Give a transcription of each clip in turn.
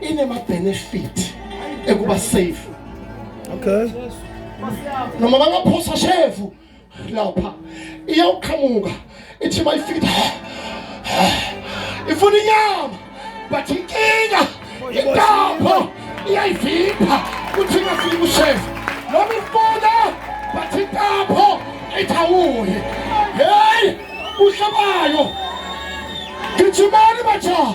inema benefit ekuba safe okay noma bangaphosa shevu lapha iyawuqhamuka ithi bayifika ifuna inyama but inkinga intapho iyayivipha kuthi ingafiki kushevu noma ifuna but intapho ithawuye heyi uhlabayo gijimani bajaha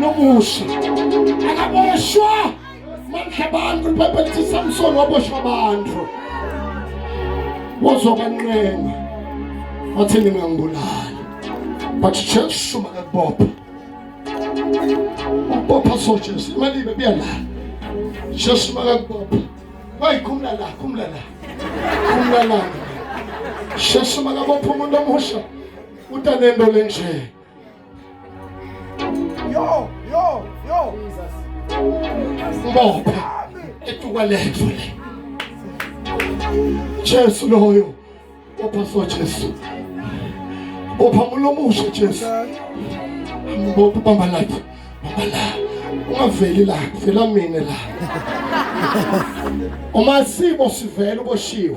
lomusa akaboshwa mandla abantu libhayibheli lithi samsoni waboshwa abantu wozokwanqenga wathi ningangibulali but jesu makakubopha ubopha so jesu imali ibe buya la jesu makakubopha wayikhumula la khumula la khumula la jesu makabopha umuntu omusha utanento lenje Yo, yo, yo. Ngoba etuka lethu le. Jesu loyo. Bopha so Jesu. Bopha mulomushe Jesu. Bopha bamba lathi. Bamba la. Ungaveli la, vela mina la. Uma sibo sivela uboshiwe.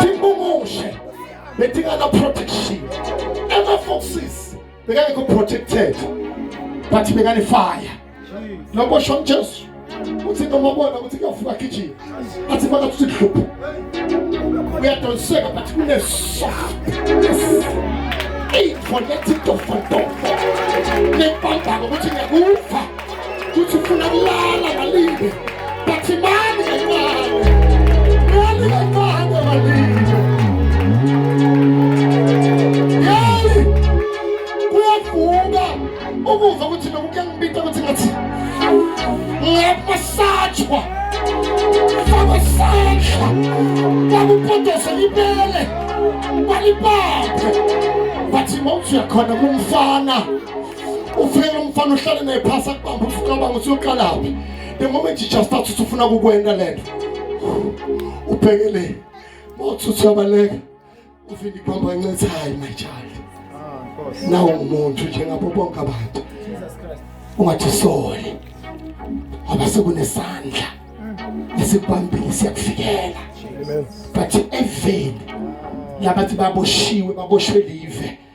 Tingumushe betingana protection ema foxes bekangekho protected but bekane fire lokho sho Jesu uthi noma ubona ukuthi kuyavuka gijima athi baka uthi hlupho uyadonseka but kune soft ey for letting to for to ne pamba ukuthi ngiyakuva kuthi ufuna kulala ngalinde bathi mani kancane mani kancane ngalinde yeyi kuyavuka ukuva ukuthi nokuke ngibita ukuthi ngathi ngiyamasajwa faka sandla bakupotosa libele balibaphe bathi mawuthi uyakhona kumfana ufike lomfana uhlale naye phasi akubamba usucabanga ukuthi uyoqalaphi the moment you just start usufuna kukwenda lento ubheke le mawuthi usuyabaleka uvini ibamba ncethe hayi my child ah, nawo umuntu njengabo bonke abantu ungathi sole ngoba sekunesandla esikubambile siyakufikela but even labathi baboshiwe baboshwe live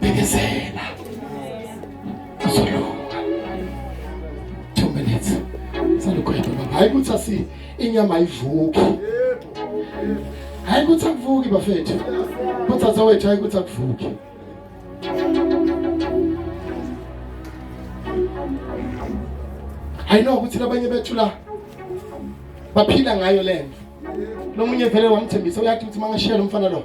Bekezela. Uzolunga. Two minutes. Salukhwetha baba. Hayi ukuthi asi inyama ayivuki. Hayi ukuthi akuvuki bafethu. Kodwa zawethu hayi ukuthi akuvuki. I know ukuthi labanye bethu la baphila ngayo lento. Lomunye vele wamthembisa uyathi ukuthi mangashiya lo mfana lo.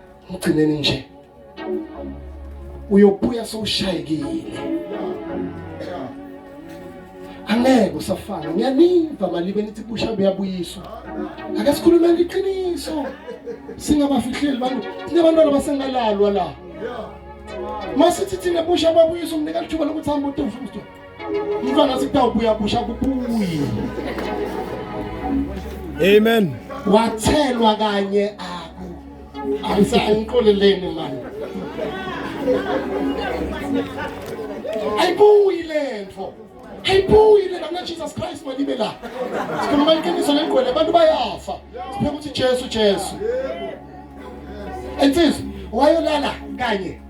ngigcineni nje uyobuya sowushayekile angeke usafana ngiyaniva malibe nithi busha buyabuyiswa ake sikhulume ngiqiniso singabafihleli bantu sinabantwana basengalalwa la masithi thina busha babuyisa umnika lithuba lokuthi hambe utofusto Mfana sikutawubuya busha kubuye. Amen. Wathelwa kanye aku. Ayisangiqoleleni manje. Ayibuyi lento. Ayibuyi lento na Jesus Christ malibe la. Sikhuluma iqiniso lengqwele abantu bayafa. Sipheka ukuthi Jesu Jesu. Insizwa wayolala kanye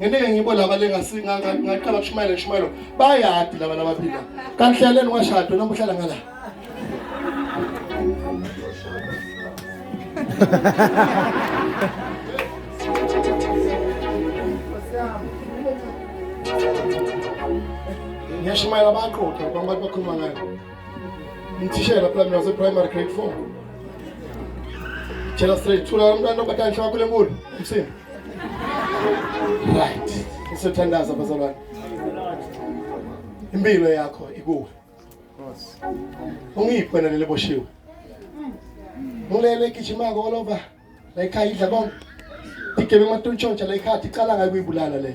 ngeneke ngibo laba lengasinga ngaqala kushumayela kushumayelo bayadi laba labaphila kanti hlaleni washado noma uhlala ngala ngiyashumayela baqoqa abantu bakhuluma ngayo Mthishela phela mina wase primary grade 4. Tshela straight thula umntwana obatani shaka kule nkulu umsini. Right. Isothandaza bazalwane. Impilo yakho ikuwe. Ungiphi wena lele boshiwe? Ngilele gijima all over. La ikhaya idla bonke. Igebe emathontshontsha la ikhaya iqala ngayo kuyibulala le.